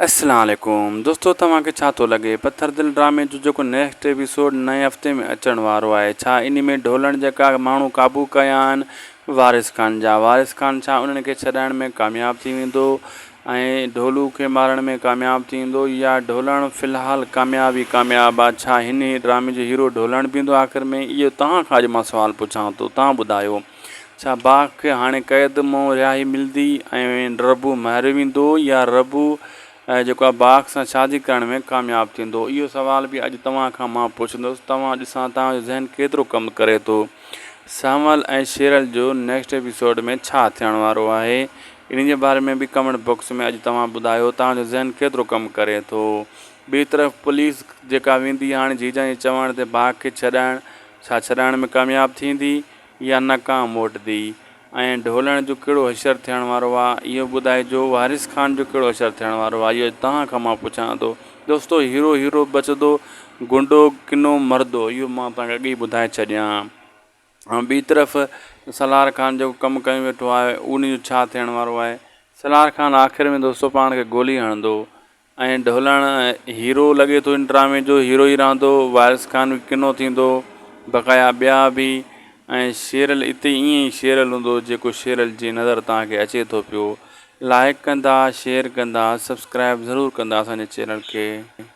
السلام عليڪم دوستو توهان کي ڇا ٿو لڳي پٿر دل ڊرامي جو جيڪو نيڪسٽ ايپيسوڊ نئين هفتي ۾ اچڻ وارو آهي ڇا انهي ۾ ڍولڻ جيڪا ماڻهو قابو ڪيا آهن وارث خان جا وارث خان ڇا انهن کي ڇڏائڻ ۾ ڪامياب ٿي ويندو ۽ ڍولو کي مارڻ ۾ ڪامياب ٿي ويندو يا ڍولڻ في الحال ڪامياب ئي ڪامياب آ ڇا هني ڊرامي جو هيرو ڍولڻ بي هندو آخر ۾ اهو توهان کان اڄ مان سوال پڇان ٿو توهان ٻڌايو. ڇا باغ کي هاڻي قيد مئون رهائي ملدي ۽ ربو ماريو ويندو يا ربو جيڪو آهي باغ سان شادي ڪرڻ ۾ ڪامياب ٿيندو؟ اهو سوال به اڄ توهان کان مان پڇندس توهان ڏسان توهان جو ذهن ڪيترو ڪم ڪري ٿو سنول ۽ شيرل جو نيڪسٽ ايپيسوڊ ۾ ڇا ٿيڻ وارو آهي انهي جي باري ۾ به ڪمينٽ باڪس ۾ اڄ توهان ٻڌايو توهان جو ذهن ڪيترو ڪم ڪري ٿو ٻي طرف پوليس جيڪا ويندي هاڻي جيجان جي چوڻ تي باغ کي ڇڏائڻ ڇا ڇڏائڻ ۾ ڪامياب ٿيندي؟ يا ناڪام موٽدي ۽ ڍولڻ جو ڪهڙو حشر ٿيڻ وارو آ اهو ٻڌائجو وارث خان جو ڪهڙو حشر ٿيڻ وارو آ اهو اڄ توهان کان مان پڇان ٿو دوستو هيرو هيرو بچدو گنڊو ڪنو مردو اهو مان توهان کي اڳ ئي ٻڌائي ڇڏيان ها ٻي طرف سالار خان جيڪو ڪم ڪيون ويٺو آهي ان جو ڇا ٿيڻ وارو آهي سالار خان آخر ۾ دوستو پاڻ کي گولي هڻندو ائين ڍولڻ هيرو لڳي ٿو ان ڊرامي جو هيرو ئي رهندو وارث خان به ڪنو ٿيندو بقايا ٻيا به ۽ شيرل اتي ائين ئي شيرل هوندو جيڪو شيرل جي نظر تهان کي اچي ٿو پيو لائڪ ڪندا شيئر ڪندا سبسڪرائب ضرور ڪندا اسان جي چينل کي.